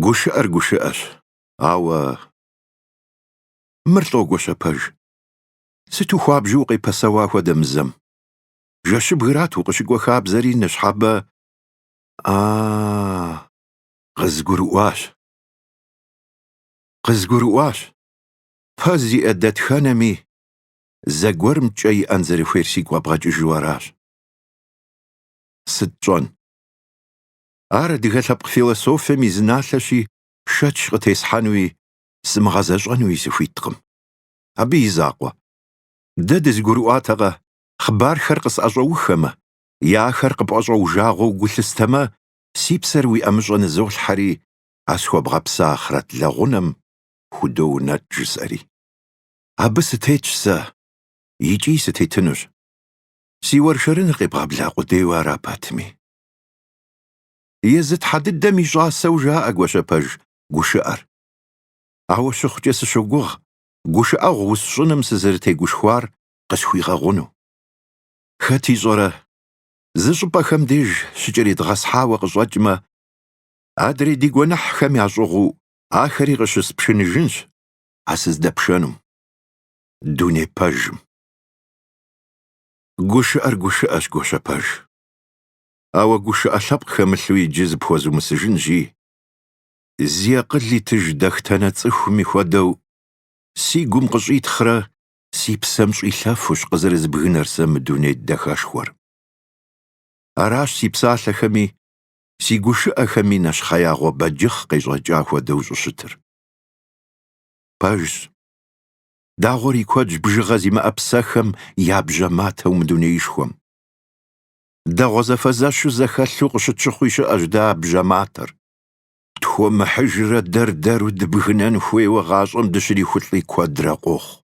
Гушыӏэр гушыӏэщ, ауэ мыр лӏо, Гуащэпэж. Сыту хуабжьу укъепэсэуа хуэдэ мызэм? Жэщыбгырат укъыщыкӏуэ хабзэри ныщхьэбэ А-а-а! Къызгурыӏуащ. Къызгурыӏуащ. Пэ зиӏэ дэтхэнэми зэгуэрым кӏэ иӏэн зэрыхуейр сигу къэбгъэкӏыжу аращ. Сыт тщӏэн? Ар адыгэ лъэпкъ философием и зы налъэщи, шэч къытесхьэнуи, сымыгъэзэщӏэнуи сыхуиткъым. Абы и закъуэ. Дэ дызэгурыӏуатэкъэ, хъыбархэр къысӏэщӏэухэмэ, е ахэр къыпӏэщӏэужагъуэу гулъыстэмэ, си псэр уи ӏэмыщӏэ нызолъхьэри, а схуэбгъэпса ахърэт лэгъунэм худоунэтӏ жысӏэри. Абы сытетщ сэ, икӏи сытетынущ. Си уэршэрыныр къебгъэбла къудейуэ ара пэтми. Езы тхьэ дыдэм и щӏасэу жаӏэ Гуащэпэж гушыӏэр. Ауэ щыхъукӏэ сыщогугъ гушыӏэгъу усщӏыным сызэрытегушхуар къысхуигъэгъуну. Хэт ищӏэрэ, зы щӏыпӏэхэм деж щыкӏэридгъэсхьауэ къыщӏэкӏмэ, адрей ди гуэныхьхэм ящӏыгъуу ахэри къыщыспшыныжынщ а сыздэпшэнум, дуней пэжым. Гушыӏэр гушыӏэщ, Гуащэпэж. Ауэ гушыӏэ лъэпкъ хэмылъу иджы зыпхуэзумысыжынщи, зи акъыл итыж дахтэнэ цӏыхуми хуэдэу, си гум къыщӏитхърэ си псэм щӏилъэфущ къызэрызбгынэр сэ мы дуней дахэшхуэр. Аращ си псалъэхэми, си гушыӏэхэми нэщхъеягъуэ бэджыхъ къещӏэкӏа хуэдэу щӏыщытыр. Пэжщ. Дагъуэр и куэдщ бжыгъэ зимыӏэ псэхэм я бжьэ матэу мы дунеишхуэм. дэгъуэ зэфэзэщу зэхэлъу къыщытщыхъуи щыӏэщ дэ а бжьэ матэр. Тхуэмыхьыжрэ дэр-дэру дыбгынэн хуейуэ гъащӏэм дыщрихулӏи куэдрэ къохъу.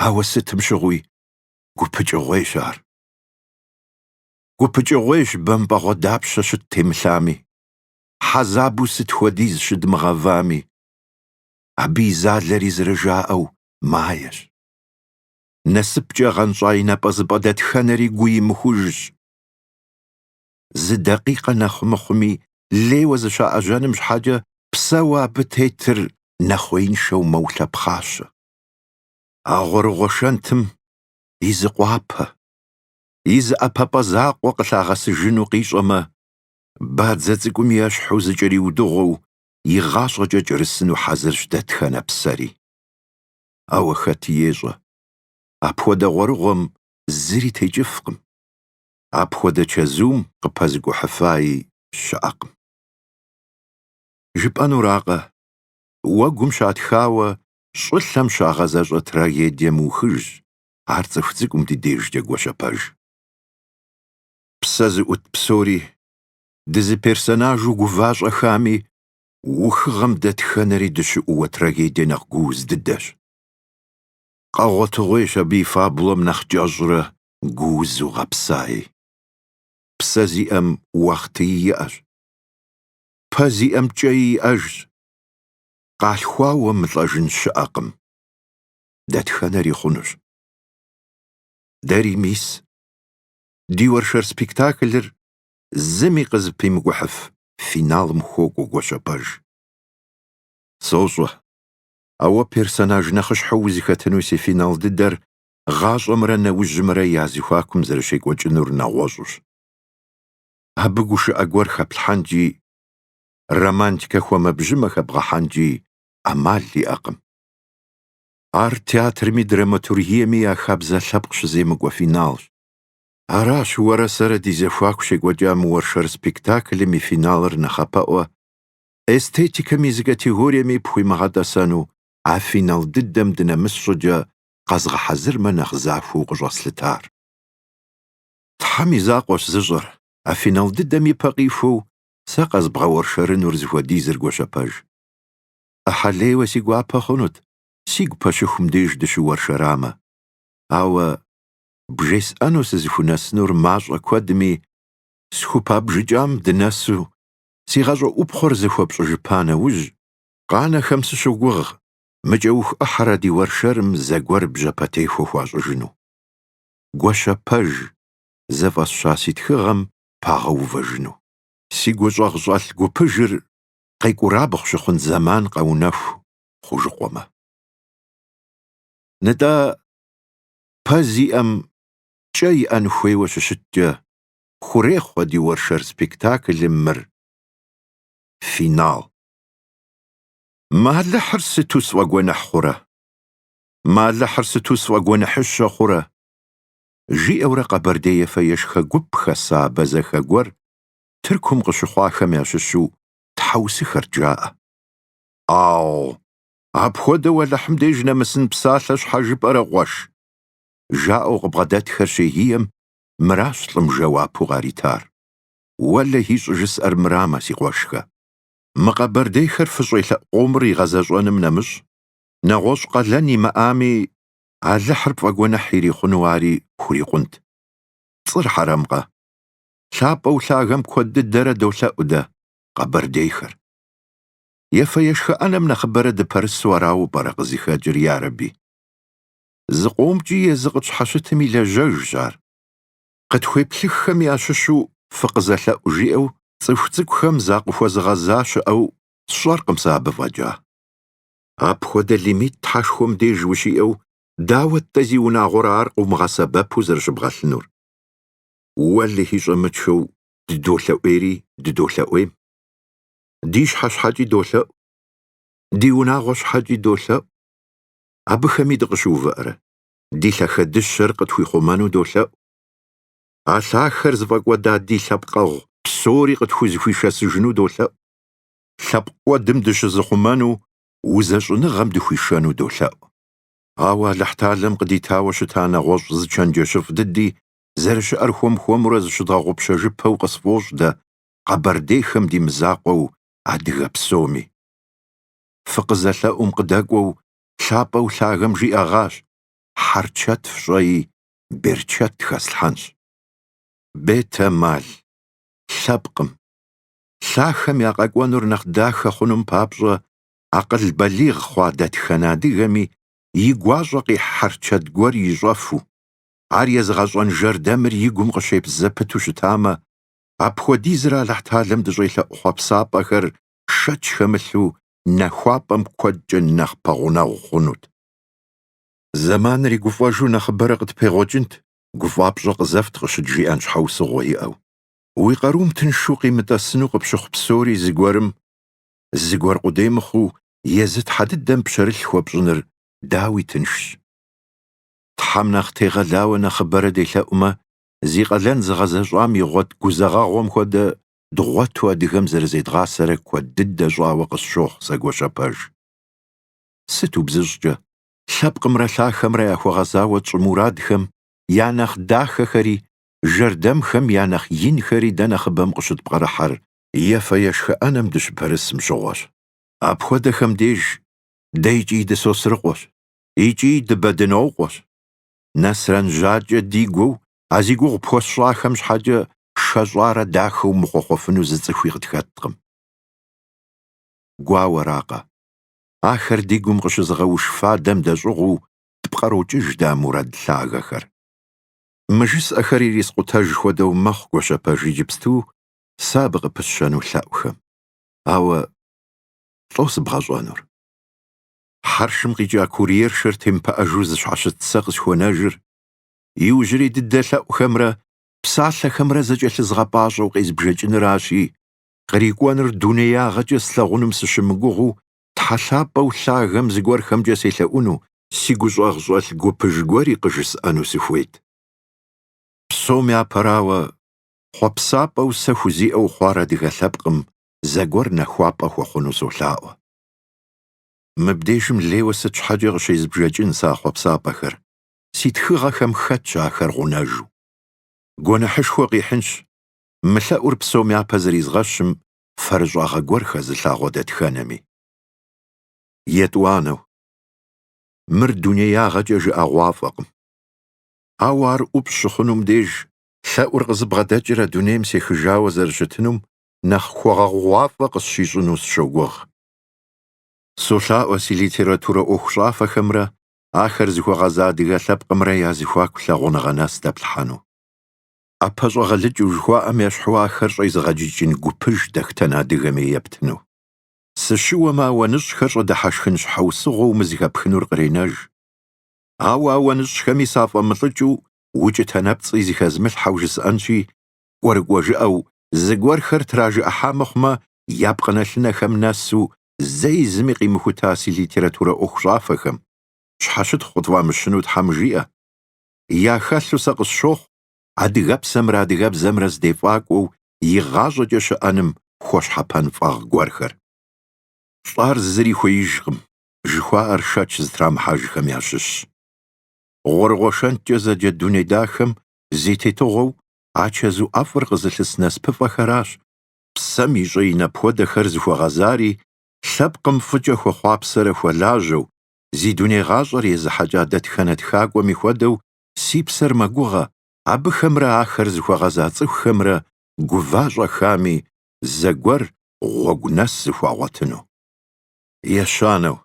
Ауэ сытым щыгъуи гупыкӏыгъуейщ ар. Гупыкӏыгъуейщ бэмпӏэгъуэ дапщэ щыттемылъами, хьэзабу сыт хуэдиз щыдмыгъэвами. Абы и залэри зэрыжаӏэу маещ. насыпкӏэ гъэнщӏа и напӏэзыпӏэ дэтхэнэри гуимыхужщ. Зы дакъикъэ нэхъ мыхъуми, лейуэ зыщаӏэжьэным щхьэкӏэ псэуэ абы тетыр нэхъуеиншэу мэулъэпхъащэ. А гъуэрыгъуэ шэнтым и зы къуапэ, и зы ӏэпэпӏэ закъуэ къылъагъэсыжыну къищӏэмэ, бадзэ цӏыкӏум ещхьу зыкӏэриудыгъуэу, и гъащӏэкӏэ кӏэрысыну хьэзырщ дэтхэнэ псэри. ауэ хэт ещӏэ? Апхуэдэ гъуэрыгъуэм зыри текӏыфкъым. Апхуэдэ чэзум къыпэзыкӏухьыфаи щыӏэкъым. Жыпӏэнуракъэ, уэгум щатхауэ щӏылъэм щагъэзэщӏэ трагедие мыухыжщ ар цӏыху цӏыкӏум ди дежкӏэ, Гуащэпэж. Псэ зыӏут псори, дызыперсонажу гува-щӏэхами, ухыгъэм дэтхэнэри дыщыӏууэ трагедие нэхъ гууз дыдэщ. Къэгъуэтыгъуейщ абы и фабулэм нэхъ кӏэщӏрэ гуузу гъэпсаи. Псэ зиӏэм уахътыи иӏэщ. Пэ зиӏэм кӏэи иӏэжщ. Къалъхуауэ мылӏэжын щыӏэкъым. Дэтхэнэри хъунущ. Дэри мис, ди уэршэр спектаклыр зыми къызыпимыкӏухьыф финалым хуокӏуэ, Гуащэпэж. Сощӏэ, ауэ персонаж нэхъыщхьэу узыхэтыну си финал дыдэр гъащӏэмрэ нэужьымрэ я зыхуакум зэрыщекӏуэкӏынур нэгъуэщӏущ. Абы гушыӏэ гуэр хэплъхьэнкӏи, романтикэ хуэмэбжьымэ хэбгъэхьэнкӏи ӏэмал иӏэкъым. Ар театрми драматургиеми я хабзэ лъэпкъ щыземыкӏуэ финалщ. Аращ уэрэ сэрэ ди зэхуаку щекӏуэкӏа мы уэршэр спектаклым и финалыр нэхъапэӏуэ эстетикэм и зы категориеми пхуимыгъэтӏэсэну а финал дыдэм дынэмыс щӏыкӏэ къэзгъэхьэзырмэ нэхъ захуэу къыщӏэслъытар. Тхьэм и закъуэщ зыщӏэр, а финал дыдэм ипэ къихуэу сэ къэзбгъэуэршэрынур зыхуэдизыр, Гуащэпэж. ӏыхьэлейуэ си гуапэ хъунут сигу пэщыхум деж дыщыуэршэрамэ, ауэ бжесӏэну сызыхунэсынур мащӏэ куэдми, схупабжыкӏам дынэсу си гъащӏэ ӏупхъуэр зэхуэпщӏыжыпа нэужь, къанэхэм сыщогугъ мы кӏэух ӏыхьэр а ди уэршэрым зэгуэр бжьэпэтехуэ хуащӏыжыну. Гуащэпэж зыфӏэсща си тхыгъэм пагъэувэжыну. Си гущӏэгъу щӏэлъ гупыжыр къекӏурабгъу щыхъун зэман къэунэху хъужыкъуэмэ. Нтӏэ, пэ зиӏэм кӏэ иӏэн хуейуэ щыщыткӏэ, хурехъу а ди уэршэр спектаклым мыр финал. Мы Алыхьыр сыту сфӏэгуэныхь хъурэ! Мы Алыхьыр сыту сфӏэгуэныхьыщэ хъурэ! жиӏэурэ къэбэрдей ефэ-ешхэ гуп хэса абэзэхэ гуэр Тыркум къыщыхъуахэм ящыщу тхьэусыхэрт жаӏэ. Ау, Апхуэдэу Алыхьым деж нэмысын псалъэ щхьэ жыпӏэрэ къуэш? жаӏэу къыбгъэдэтхэр щегием, мыращ лӏым жэуапу къаритар. Уэлэхьи, щӏыжысӏэр мырамэ, си къуэшхэ. Мы къэбэрдейхэр фыщӏелъэӏу къомыр игъэзэщӏэным нэмыщӏ, нэгъуэщӏ къалэн имыӏами, Алыхьыр пфӏэгуэныхь ирихъуну ари хурикъунт. Пцӏыр хьэрэмкъэ? Лъапӏэу лъагэм куэд дыдэрэ долъэӏу дэ, къэбэрдейхэр. Ефэ-ешхэ ӏэнэм нэхъыбэрэ дыпэрысу арауэ пӏэрэ къызыхэкӏыр, ярэби? Зыкъомкӏи езы къытщхьэщытым и лажьэжщ ар. Къытхуеплъыххэм ящыщу фыкъызэлъэӏу, жиӏэу цӏыху цӏыкӏухэм закъыхуэзыгъэза щыӏэу сщӏэркъым сэ абы фӏэкӏа. Апхуэдэ лимит Тхьэшхуэм деж ущиӏэу, дауэт-тӏэ зиунагъуэрэ ар къыумыгъэсэбэпу зэрыщыбгъэлъынур? Уэлэхьи щӏэмычхэу дыдолъэӏуейри дыдолъэӏуейм. ди щхьэ щхьэкӏи долъэӏу, ди унагъуэ щхьэкӏи долъэӏу, абыхэми дыкъыщыувыӏэрэ, ди лъахэ дыщэр къытхуихъумэну долъэӏу. А лъахэр зыфӏэкӏуэда ди лъэпкъэгъу псори къытхузыхуишэсыжыну долъэӏу. Лъэпкъ кӏуэдым дыщызыхъумэну узэщӏыныгъэм дыхуишэну долъэӏу. Ауэ Алыхьталэм къыдитауэ щыта нэгъуэщӏ зы чэнджэщыфӏ дыди зэрыщыӏэр хуэм-хуэмурэ зыщыдгъэгъупщэжыпэу къысфӏощӏ дэ, къэбэрдейхэм ди мызакъуэу адыгэ псоми. Фыкъызэлъэӏум къыдэкӏуэу лъапӏэу лъагэм жиӏэгъащ, Хьэрчэт фщӏэи, берчэт хэслъхьэнщ. Бетэмал, лъэпкъым, лъахэм я къэкӏуэнур нэхъ дахэ хъунум папщӏэ акъыл балигъ хъуа дэтхэнэ адыгэми и гуащӏэ къихь хьэрчэт гуэр ищӏэфу, ар езыгъэщӏэн жэрдэмыр и гум къыщепс зэпыту щытамэ, Апхуэдизрэ Алыхьталэм дыщӏелъэӏу хъуэпсапӏэхэр шэч хэмылъу нахуапӏэм куэдкӏэ нэхъ пэгъунэгъу хъунут. Зэманыри гуфӏэжу нэхъыбэрэ къытпегъуэкӏынт, гуфӏапщӏэ къызэфт къыщыджиӏэн щхьэусыгъуэ иӏэу. Уи къарум тыншу къимытӏэсыну къыпщыхъу псори зыгуэрым, зыгуэр къудей мыхъуу, езы тхьэ дыдэм пщэрылъ хуэпщӏыныр, дауи, тыншщ. Тхьэм нэхъ тегъэлауэ нэхъыбэрэ делъэӏумэ, зи къалэн зыгъэзэщӏам игъуэт гузэгъэгъуэм хуэдэ дгъуэту адыгэм зэрызедгъасэрэ куэд дыдэ щӏауэ къысщохъу сэ Гуащэпэж. Сыт убзыщӏкӏэ, лъэпкъымрэ лъахэмрэ яхуэгъэзауэ тщӏы мурадхэм я нэхъ дахэхэри, жэрдэмхэм я нэхъ инхэри дэ нэхъыбэм къыщытпкърыхьэр ефэ-ешхэ ӏэнэм дыщыпэрысым щыгъуэщ. Апхуэдэхэм деж дэ икӏи дысосрыкъуэщ, икӏи дыбэдынокъуэщ. Нэсрэн жьакӏэ дигуэу, а зи гугъу пхуэсщӏахэм щхьэкӏэ шэщӏарэ дахэу мыхъуэхъуэфыну зы цӏыхуи къытхэткъым. Гуауэракъэ, ахэр ди гум къыщызыгъэуш фадэм дэщӏыгъуу тпкърокӏыж дэ а мурад лъагэхэр. Мы жысӏэхэр ирискъутэж хуэдэу мэхъу Гуащэпэж иджыпсту сэ абы къыпысщэну лъэӏухэм. Ауэ лӏо сыбгъэщӏэнур. хьэршым къикӏа курьершэр темыпыӏэжу зыщхьэщыт сэ къысхуэнэжыр, иужьрей дыдэ лъэӏухэмрэ псалъэхэмрэ зэкӏэлъызгъэпӏащӏэу къезбжэкӏыныращи, кърикӏуэныр дунеягъэкӏэ слъагъуным сыщымыгугъыу Тхьэ лъапӏэу лъагэм зыгуэрхэмкӏэ селъэӏуну, си гущӏагъщӏэлъ гупыж гуэри къыжысӏэну сыхуейт. Псом япэрауэ, хъуэпсапӏэу сэ хузиӏэу хъуар адыгэ лъэпкъым зэгуэр нахуапӏэ хуэхъуну солъаӏуэ. Мыбдежым лейуэ сыт щхьэкӏэ къыщезбжэкӏын сэ а хъуэпсапӏэхэр? Си тхыгъэхэм хэтщ ахэр гъунэжу. Гуэныхьышхуэ къихьынщ, мы лъэӏур псом япэ зэризгъэщым фэрыщӏагъэ гуэр хэзылъагъуэ дэтхэнэми. Етӏуанэу. Мыр дунеягъэкӏэ жыӏэгъуафӏэкъым. Ауэ ар ӏупщӏ щыхъунум деж, лъэӏур къызыбгъэдэкӏрэ дунейм сехыжауэ зэрыщытынум нэхъ хуэгъэгъугъуафӏэ къысщищӏыну сыщогугъ. Солъаӏуэ си литературэ ӏуэхущӏафэхэмрэ ахэр зыхуэгъэза адыгэ лъэпкъымрэ я зэхуаку лъагъуныгъэ нэс дэплъхьэну. ӏэпэ щӏэгъэлыкӏыу жыхуаӏэм ещхьу ахэр щӏезыгъэджыкӏын гупыж дэтхэнэ адыгэми ептыну. Сыщыуэмэ, ауэныщӏхэр щӏыдыхьэшхын щхьэусыгъуэу мы зэхэпхынур къренэж. Ауэ ауэныщӏхэми сафӏэмылӏыкӏыу укӏытэ нэпцӏи зыхэзмылъхьэу жысӏэнщи, кӏуэрыкӏуэ жыӏэу, зыгуэрхэр тражыӏыхьа мыхъумэ, я пкъынэлъынэхэм нэсу, зэи зыми къимыхута си литературэ ӏуэхущӏафэхэм, щхьэщытхъу къытфӏамыщыну Тхьэм жиӏэ. Яхэлъу сэ къысщохъу адыгэпсэмрэ адыгэбзэмрэ здефӏакӏуэу игъащӏэкӏэ щыӏэным хуэщхьэпэн фӏагъ гуэрхэр. Лӏар зыри хуеижкъым, жыхуаӏэр шэч зытрамыхьэжхэм ящыщщ. Гъуэрыгъуэ шэнткӏэ зэджэ дуней дахэм зи тетыгъуэу а чэзу ӏэфӏыр къызылъыс насыпыфӏэхэращ, псэм и щӏэин апхуэдэхэр зыхуэгъэзари, лъэпкъым фӏыкӏэ хуэхъуапсэрэ хуэлажьэу, зи дуней гъащӏэр езыхьэкӏа дэтхэнэ тхакӏуэми хуэдэу си псэр мэгугъэ, абыхэмрэ ахэр зыхуэгъэза цӏыхухэмрэ гува-щӏэхами, зэгуэр гъуэгу нэс зэхуагъуэтыну. Ещанэу.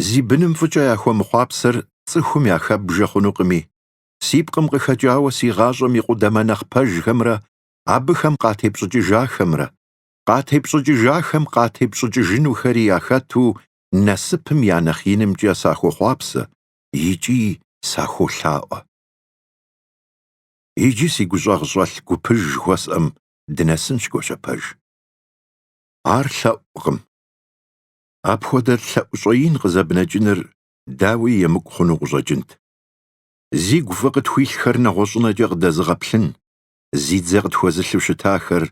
Зи быным фӏыкӏэ яхуэмыхъуапсэр цӏыхум яхэбжэ хъунукъыми, си пкъым къыхэкӏауэ си гъащӏэм и къудамэ нэхъ пэжхэмрэ абыхэм къатепщӏыкӏыжахэмрэ, къатепщӏыкӏыжахэм къатепщӏыкӏыжынухэри яхэту насыпым я нэхъ инымкӏэ сахуохъуапсэ икӏи сахуолъаӏуэ. Иджы си гущӏэгъщӏэлъ гупыж жыхуэсӏэм дынэсынщ Гуащэпэж. Ар лъэӏукъым. Апхуэдэ лъэӏу щӏэин къызэбнэкӏыныр дауи емыкӏу хъуну къыщӏэкӏынт. Зигу фӏы къытхуилъхэр нэгъуэщӏынэкӏэ къыдэзыгъэплъын, зи дзэ къытхуэзылъу щытахэр,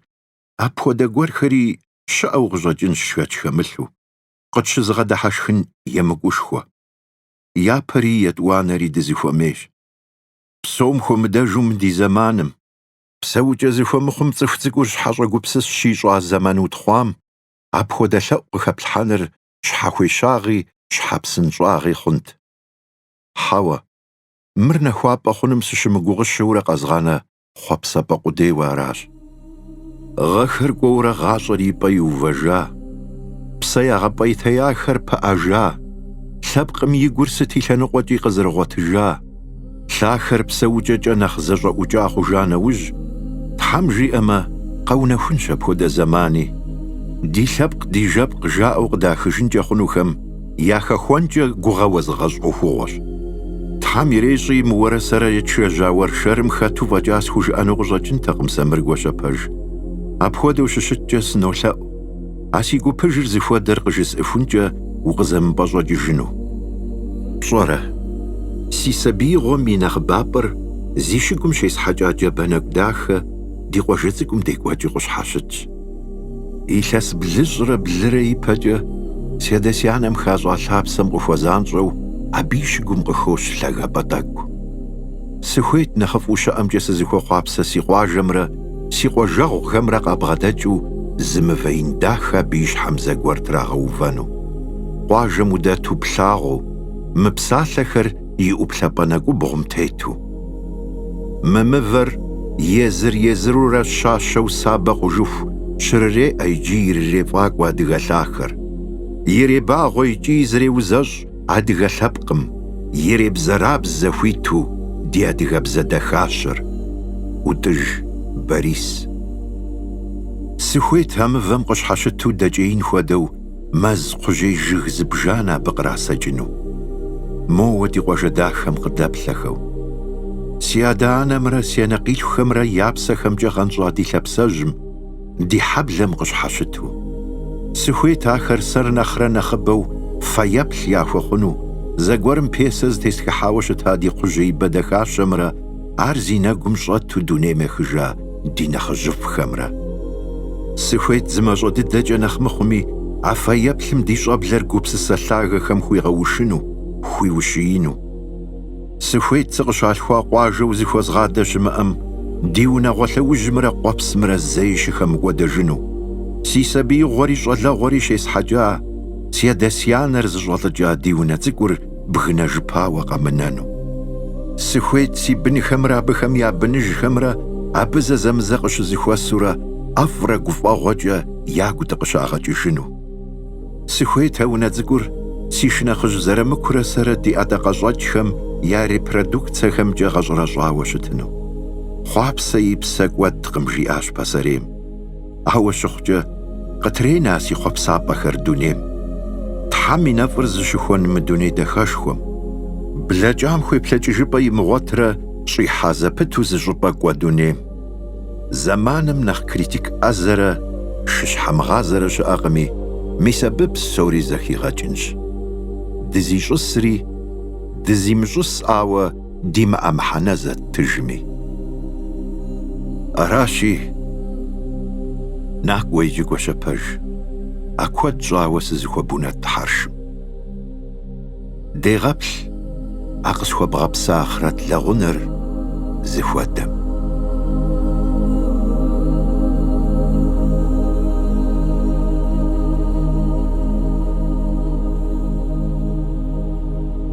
апхуэдэ гуэрхэри щыӏэу къыщӏэкӏынщ шэч хэмылъу, къытщызыгъэдыхьэшхын емыкӏушхуэ. Япэри етӏуанэри дызыхуэмейщ. Псом хуэмыдэжу мы ди зэманым. Псэукӏэ зыхуэмыхъум цӏыху цӏыкӏур щхьэщӏэгупсыс щищӏа зэман утхъуам, апхуэдэ лъэӏу къыхэплъхьэныр щхьэхуещагъи щхьэпсынщӏагъи хъунт. Хьэуэ, мыр нахуапӏэ хъуным сыщымыгугъыщэурэ къэзгъанэ хъуэпсапӏэ къудейуэ аращ. Гъэхэр кӏуэурэ гъащӏэр и пӏэ иувэжа, псэ ягъэпӏейтеяхэр пыӏэжа, лъэпкъым и гур сыт и лъэныкъуэкӏи къызэрыгъуэтыжа, лъахэр псэукӏэкӏэ нэхъ зэщӏэӏукӏа хъужа нэужь, Тхьэм жиӏэмэ, къэунэхунщ апхуэдэ зэмани. Ди лъэпкъ ди жэпкъ жаӏэу къыдахыжынкӏэ хъунухэм яхэхуэнкӏэ гугъэ уэзыгъэщӏ ӏуэхугъуэщ. Тхьэм ирещӏи мы уэрэ сэрэ едгъэжьа уэршэрым хэту фӏэкӏа схужыӏэну къыщӏэкӏынтэкъым сэ мыр, Гуащэпэж. Апхуэдэу щыщыткӏэ сынолъэӏу, а си гупыжыр зыхуэдэр къыжысӏыхункӏэ укъызэмыпӏэщӏэкӏыжыну. Пщӏэрэ, си сабиигъуэм и нэхъыбапӏэр зи щыгум щесхьэкӏа джабэ нэкӏу дахэ ди къуажэ цӏыкӏум декӏуэкӏи къыщхьэщытщ. Илъэс блыщӏрэ блырэ ипэкӏэ си адэ-си анэм хащӏа лъапсэм къыхуэзанщӏэу абы и щыгум къыхощ лъагапӏэ тӏэкӏу. Сыхуейт нэхъыфӏу щыӏэмкӏэ сызыхуэхъуапсэ си къуажэмрэ си къуажэгъухэмрэ къабгъэдэкӏыу зы мывэ ин дахэ абы и щхьэм зэгуэр трагъэувэну. Къуажэм удэту плъагъуу, мы псалъэхэр и ӏуплъэпӏэ нэкӏубгъум тету. Мы мывэр езыр-езырурэ щащэу сабэ хъужыху щрыреӏэ икӏи ирырефӏакӏуэ адыгэ лъахэр. Иребагъуэ икӏи зреузэщӏ адыгэ лъэпкъым, иребзэрабзэ хуиту ди адыгэбзэ дахащэр. ӏутӏыж Борис. Сыхуейт а мывэм къыщхьэщыту дэкӏеин хуэдэу мэз кхъужьей жыг зыбжанэ абы кърасэкӏыну. Моуэ ди къуажэ дахэм къыдэплъэхэу. Си адэ-анэмрэ си анэкъилъхухэмрэ я псэхэмкӏэ гъэнщӏа ди лъапсэжьым, ди хьэблэм къыщхьэщыту. Сыхуейт ахэр сэр нэхърэ нэхъыбэу фэеплъ яхуэхъуну, зэгуэрым пьесэ зытестхыхьауэ щыта ди кхъужьеибэ дахащэмрэ ар зи нэгум щӏэту дунейм ехыжа ди нэхъыжьыфӏхэмрэ. Сыхуейт зы мащӏэ дыдэкӏэ нэхъ мыхъуми а фэеплъым ди щӏэблэр гупсысэ лъагэхэм хуигъэушыну, хуиущиину. Сыхуейт сыкъыщалъхуа къуажэу зыхуэзгъадэ щымыӏэм, ди унагъуэ лъэужьымрэ къуэпсымрэ зэи щыхэмыкӏуэдэжыну. Си сабиигъуэри щӏалэгъуэри щесхьэкӏа, си адэ-си анэр зыщӏэлӏыкӏа ди унэ цӏыкӏур бгынэжыпауэ къэмынэну. Сыхуейт си бынхэмрэ абыхэм я быныжхэмрэ абы зэзэмызэ къыщызыхуэсурэ ӏэфӏрэ гуфӏэгъуэкӏэ ягу дыкъыщагъэкӏыжыну. Сыхуейт а унэ цӏыкӏур си шынэхъыжь Зырамыкурэ сэрэ ди ӏэдакъэщӏэкӏхэм я репродукцэхэмкӏэ гъэщӏэрэщӏауэ щытыну. Хъуапсэ и псэ кӏуэдкъым, жиӏащ пасэрейм. Ауэ щыхъукӏэ, къытренэ си хъуэпсапӏэхэр дунейм, Тхьэм и нэфӏыр зыщыхуэн мы дуней дахэшхуэм, блэкӏам хуеплъэкӏыжыпӏэ имыгъуэтрэ щӏихьа зэпыту зы щӏыпӏэ кӏуэ дунейм. Зэманым нэхъ критик ӏэзэрэ шыщхьэмыгъазэрэ щыӏэкъыми, мис абы псори зэхигъэкӏынщ. Дызищӏысри, дызимыщӏысауэ, димыӏэ мыхьэнэ зэттыжми. Аращи, накӏуэ иджы Гуащэ пэж, а куэд щӏауэ сызыхуэбунэтӏ хьэршым. Дегъэплъ а къысхуэбгъэпса ахърэт лэгъунэр зыхуэдэм.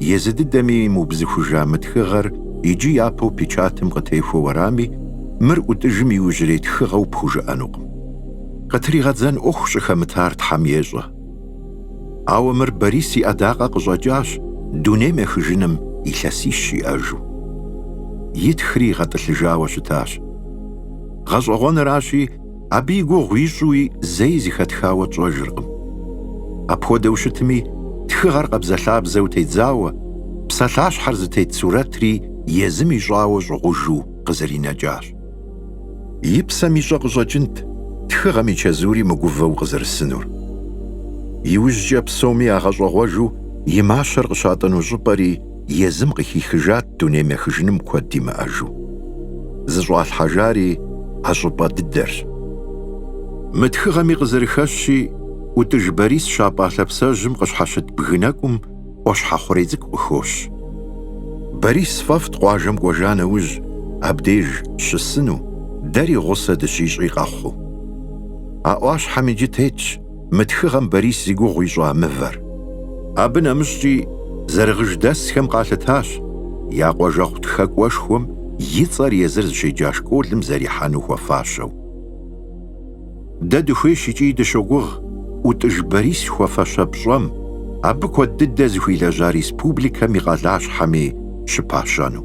езы дыдэми имыубзыхужа мы тхыгъэр иджы япэу печатым къытехуэу арами, мыр ӏутӏыжым иужьрей тхыгъэу пхужыӏэнукъым. Къытригъэдзэн ӏуэху щӏыхэмытар Тхьэм ещӏэ. Ауэ мыр Борис и ӏэдакъэ къыщӏэкӏащ дунейм ехыжыным илъэсищ иӏэжу. Итхри гъэтӏылъыжауэ щытащ. Гъэщӏэгъуэныращи, Абы и гугъу ищӏуи зэи зыхэтхауэ тщӏэжыркъым. Апхуэдэу щытми, тхыгъэр къабзэлъабзэу тедзауэ, псалъащхьэр зытет сурэтри езым ищӏауэ щӏыгъужу къызэринэкӏащ. И псэм ищӏэ къыщӏэкӏынт тхыгъэм и чэзури мыгувэу къызэрысынур. Иужькӏэ псоми ягъэщӏэгъуэжу и мащэр къыщатӏыну щӏыпӏэри, езым къыхихыжат дунейм ехыжыным куэд имыӏэжу. Зыщӏалъхьэжари а щӏыпӏэ дыдэрщ. Мы тхыгъэми къызэрыхэщщи, ӏутӏыж Борис щапӏа лъапсэжьым къыщхьэщыт бгы нэкӏум ӏуащхьэ хъурей цӏыкӏу къыхощ. Борис фӏэфӏт къуажэм кӏуэжа нэужь абдеж щысыну, дэри гъусэ дыщищӏи къэхъуу. А ӏуащхьэм иджы тетщ мы тхыгъэм Борис зи гугъу ищӏа мывэр. Абы нэмыщӏкӏи зэрыгъыждэсхэм къалъытащ я къуажэгъу тхэкӏуэшхуэм и цӏэр езыр зыщеджа школым зэрихьэну хуэфащэу. Дэ дыхуейщ икӏи дыщогугъ ӏутӏыж Борис хуэфащэ пщӏэм, абы куэд дыдэ зыхуилэжьа республикэм и къалащхьэми щыпащэну.